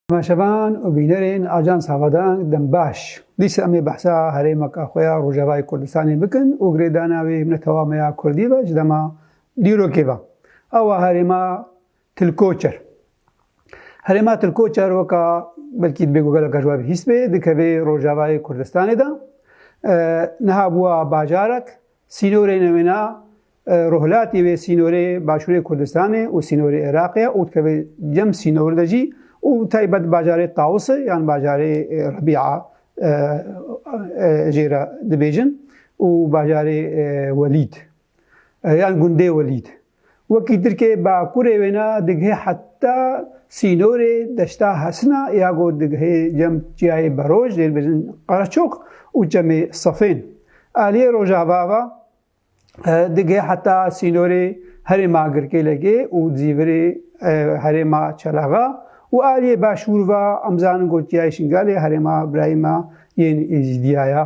Temaşevan û bînerên Ajansa xwe da dem baş. Dîsa em ê behsa herêmeka xwe ya Rojavayê Kurdistanê bikin û girêdana wê netewame ya Kurdî ve ji dema dîrokê ve. Ew e herêma Tilkoçer. Herêma Tilkoçer weka belkî dibê ku gelek ji we bihîst bê, dikeve Rojavayê Kurdistanê de. Niha bûa bajarek, sînorê newêna Rûhilatî wê sînorê Başûrê Kurdistanê û sînorê Iraqê ye û dikeve cem sînor de jî û bi taybet bajarê Tawusê yan bajarê Rebî'a jê re dibêjin û bajarê Welîd yan gundê Welîd. Wekî Tirkê bakurê wêne digihê heta sînorê deşta Hesina ya ku digihê cem çiyayê Beroj jê dibêjin Qereçoq û çemê Sefên. Aliyê Rojava ve Digê heta sînorê herêma Girkêlekê û Zîvirê herêma Çelaxa û aliyê başûr va em zanin ku Çiyayê Şingalê herêma birayma yên Êzîdiya ya.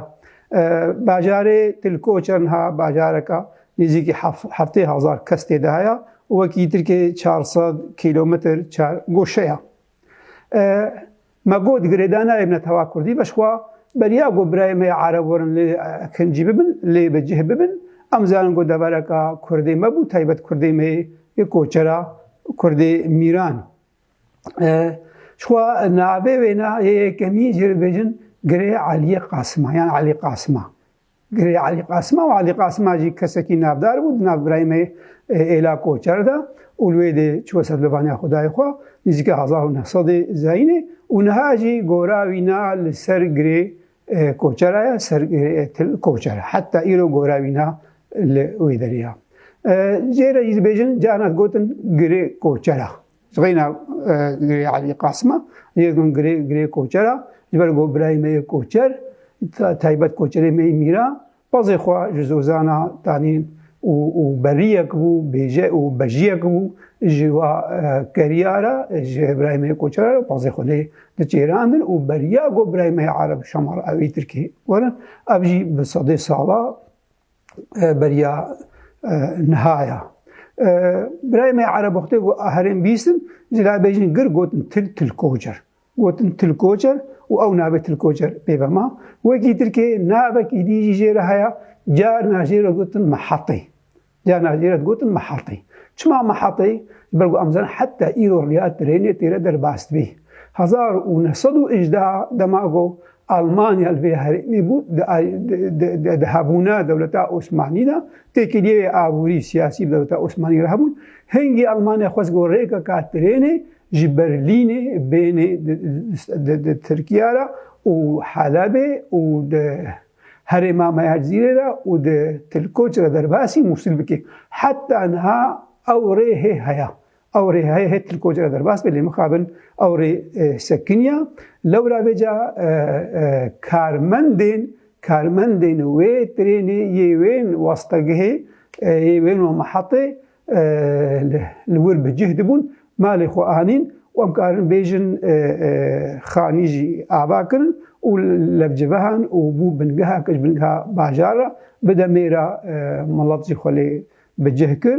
Bajarê Tilkoçe niha bajareka nêzîkî heftê hezar kes tê de heye û wekî Tirkiyê çar sed kîlometr çar goşe ya. Me got girêdayê nayê bine tewa Kurdî be şixwa beriya ku birayê me ya Ereb werin lê kincî bibin, lê bi cih bibin. Em zanin ku devereka Kurdê me bû, taybet Kurdê me yê koçera Kurdê mîran. Şixwa navê wêna yê yekemîn jê bibêjin girê Eliyê Qasima yan Elî Qasima. Girê Elî Qasima û Elî Qasima jî kesekî navdar bû di nav birayme Êla Koçer de û li wê dê çû ser levaniya xwedayê xwe nîzîka hezar û neh sedê zayînê û niha jî gora wî na li ser girê Koçer e, ser til Koçer e. Heta îro gora wî na li wê derê ya. Cê re jî dibêjin carna digotin girê Koçer e. Reyna girê Elî Qasima yê min girê girê koçer a ji ber ku birayê me yê koçer taybet koçerê me yê mîra pazê xwe ji zozana danî û û beriyek bû bêje û bejiyek bû ji wa keriya re ji birayê me yê koçer re pazê xwe lê diçêrandin û beriya ku birayê me yê ereb şamar ewî tirkî werin ev jî bi sedê sala beriya niha ya. Birayê me Erebixtê got herêm bîstin, ji la bêjin gir gotin til tilkocer. Gotin tilkocer û ew navê tilkocer pê ve ma. Wekî Tirkiyê navekî dî jî jê re heye, carna jê re gotin mihetê. Carna jê re gotin mihetê. Çima mihetê? Ji ber ku em zanin heta îro riya tirênê tê re derbas dibî. Hezar û neh sed û hejdeh dema ku Almanya li vê herêmê bû di hebûna dewleta Osmanî de têkiliyeyê aborî, siyasî bi dewleta Osmanî re hebûn. Hingî Almanya xwest ku rêkeka trênê ji Berlînê bênê di Tirkiya re û Helebê û di herêma me ya Cizîrê re û di Tilkoç re derbasî Mûsil bike. Heta niha ew rê hê heye. Ew rê heye hê Tirkoc re derbas be lê mixabin ew rê sekiniya. Lewra vêca karmendên karmendên wê trênê yê wên wastegihê yê wên wan mehatê li wir bi cih dibûn malê xwe anîn û em karin bêjin xanî jî ava kirin û levcivehan û bû bingeha kir ji bingeha bajar re bi demê re milet jî xwe lê bi cih kir.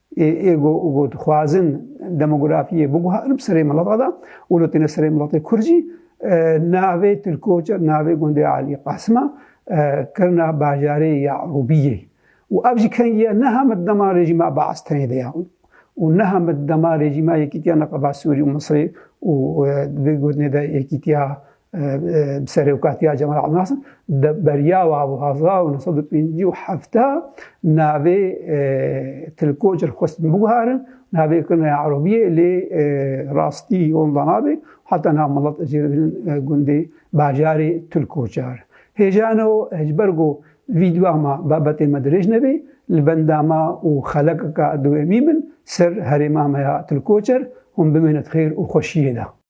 Ê êgo ûgo dixwazin demografiyê biguharin bi serê milata da û li têne serê milatê Kurd jî navê Tirkoca navê gundê Alî Qasima kirina bajarê Yarûbiyê û ev jî kengiya neha min dema rejîma Baas tenê de ya û neha min dema rejîma Yekîtiya Neqeba Sûrî û Misrê û di vê gotinê de Yekîtiya Bi serokatiya Cemal Abdulnasir di beriya wa bi hezar û neh sed û pêncî û hefta navê tilkoç li xwestin biguharin navê kirine erobiyê lê rastî onda nabe heta nav milet jê re bînin gundê bajarê tilkoçar. Hêjano ji ber ku vîdyoa me babetên me dirêj nebe li benda me û xelekeke dowemî min ser herêma me ya tilkoçer hûn bimîne di xêr û xweşiyê de.